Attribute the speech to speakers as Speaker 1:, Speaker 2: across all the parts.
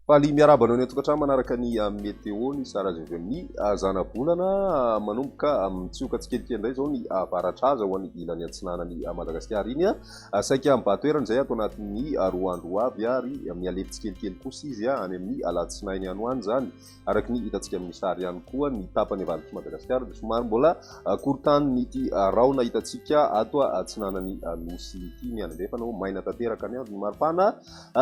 Speaker 1: Faly miarahaba anao ny an-tokantrano manaraka ny ah, météo ny Sara Zevemni ah, zanabolana ah, manomboka mitsioka tsikelikely indray izao ny avaratraza ho an'ny ilany atsinanan'ny Madagasikara iny saika mibatoerana izay ato anatin'ny roa andro avy ary mihalefy tsikelikely kosa izy any amin'ny alatsinainy any ho any izany Araka ny hitantsika amin'ny sary ihany koa ny tapany avalitr'i Madagasikara dia somary mbola korontanin'ity rahona hitantsika ato atsinanan'ny nosy ity ny andro andrefana moa maina tanteraka ny andro, ny maripana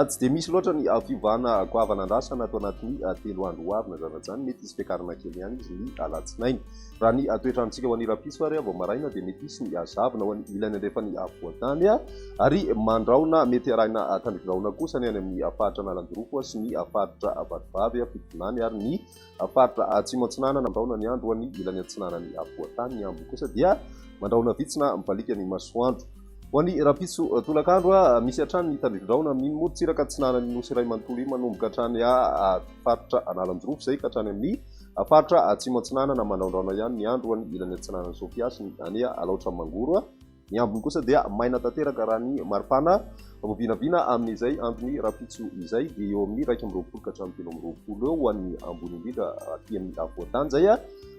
Speaker 1: tsy dia misy loatra ny fiovana goavana andrasana ato anatin'ny telo andro ho avy na izany na izany mety hisy fiakarana kely ihany izy ny alatsinainy. Raha ny toetrantsika ho an'ny rahampitso ary vao maraina dia mety hisy ny zavona ho an'ny ilany andrefan'ny afovoan-tany ary mandraona mety arahina tandrok'drahona kosa ny any amin'ny faritra Analanjirofo sy ny faritra Vatovavy Fitovinany ary ny faritra Atsimo Atsinanana mandraona ny andro ho an'ny ilany atsinanan'ny afovoan-tany ny ambiny kosa dia mandraona vitsy na mibaliaka ny masoandro ho an'ny rahampitso tolakandro misy hatrany ny tandrok'drahona amin'iny morontsiraka atsinanan'ny Nosy iray manontolo iny manomboka hatrany faritra Analanjirofo izay ka hatrany amin'ny A faritra Atsimo Atsinanana manaondraona ihany ny andro ho an'ny ilany atsinanan'i Sofia sy ny any Alaotra Mangoro. Ny ambiny kosa dia maina tanteraka raha ny maripana vao vinavina amin'izay andron'ny rahampitso izay dia eo amin'ny iraika amby roapolo ka hatramin'ny telo amby roapolo eo ho an'ny ambony indrindra aty amin'ny afovoan-tany izay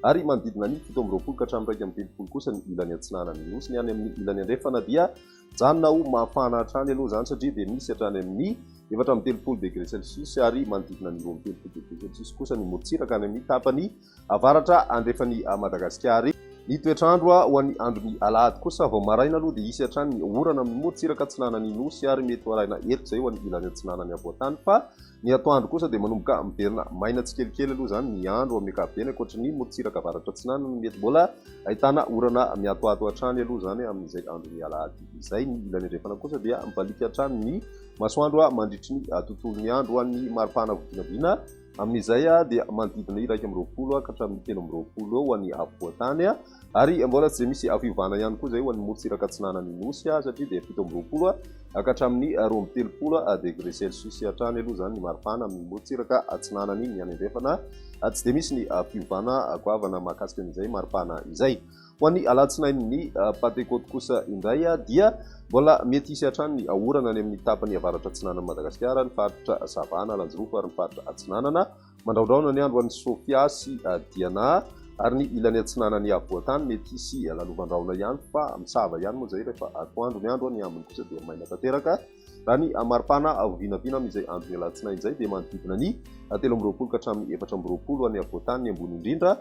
Speaker 1: ary manodidina ny fito amby roapolo ka hatramin'ny iraika amby telopolo kosa ny ilany atsinanan'ny Nosy. Ny any amin'ny ilany andrefana dia Mijanona ho mafana hatrany aloha izany satria dia misy hatrany amin'ny efatra amby telopolo degré celcius ary manodidina ny roa amby telopolo degré celcius kosa ny morontsiraka any amin'ny tapany avaratra andrefan'i Madagasikara. Ny toetr'andro ho an'ny andron'ny alahady kosa, vao maraina aloha dia hisy hatrany ny orana amin'ny morontsiraka atsinanan'ny Nosy ary mety ho arahina erika izay ho any ilany atsinanan'ny havoantany fa Ny atoandro kosa dia manomboka miverina maina tsikelikely aloha izany ny andro amin'ny ankapobeny ankoatry ny morontsiraka avaratra-atsinanana mety mbola ahitana orana miatoato hatrany aloha izany amin'izay andron'ny alahady izay. Ny ilany andrefana kosa dia mibaliaka hatrany ny masoandro mandritry ny tontolon'ny andro an'ny maripana vinavina amin'izay dia manodidina iraika amby roapolo ka hatramin'ny telo amby roapolo eo ny afovoan-tany. Ary mbola tsy dia misy ah fiovana ihany koa izay ho an'ny morontsiraka atsinanan'ny Nosy ah satria dia fito amby roapolo ah ka hatramin'ny roa amby telopolo ah degré celsius hatrany aloha izany ny maripana amin'ny morontsiraka atsinanan'ny ny any andrefana ah tsy dia misy ny fiovana ah goavana mahakasika an'izay maripana izay. Ho an'ny alatsinain'ny Pantekoty kosa indray ah dia mbola mety hisy hatrany ny orana any amin'ny tapany avaratra atsinanan'i Madagasikara, ny faritra sava an'Alanjirofo ary ny faritra atsinanana. Mandraondraona ny andro any Sofia sy Diana ary ny ilany atsinanan'ny afovoan-tany mety hisy lalovan-drahona ihany fa misava ihany moa izay rehefa atoandro ny andro, ny ambiny kosa dia maina tanteraka. Raha ny maripana vinavina amin'izay andron'ny alatsinainy izay dia manodidina ny telo amby roapolo ka hatramin'ny efatra amby roapolo any afovoan-tany ny ambony indrindra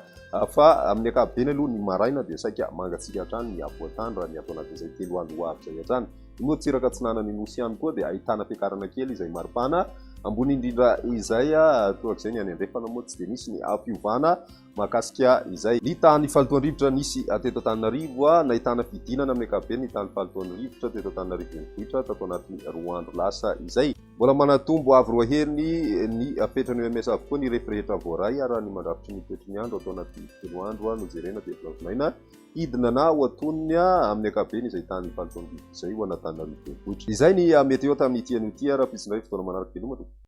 Speaker 1: fa amin'ny ankapobeny aloha ny maraina dia saika mangatsiaka hatrany ny afovoan-tany raha ny ato anatin'izay telo andro ho avy izay hatrany. I Morontsiraka atsinanan'i Nosy ihany koa dia ahitana fiakarana kely izay maripana, ambony indrindra izay torak'izay ny any andrefana moa tsy dia misy ny fiovana mahakasika izay. Ny tany fahalotoan'ny rivotra nisy teto Antananarivo, nahitana fidinana amin'ny ankapobeny ny tany fahalotoan'ny rivotra teto Antananarivo renivohitra tato anatin'ny roa andro lasa izay. Mbola manatombo avo roa heny ny fetran'ny OMS avokoa ny refy rehetra voaray raha ny mandrafitry ny toetry ny andro atao anatin'ny telo andro nojerena teto Lalatimaina. Hidina na ho atonony amin'ny ankapobeny izay tahan'ny faritrao mividy izay ho an'Antananarivo Renivohitra. Izay ny meteo tamin'ity anio ity ary hampiditra indray fotoana manaraka veloma tompoko.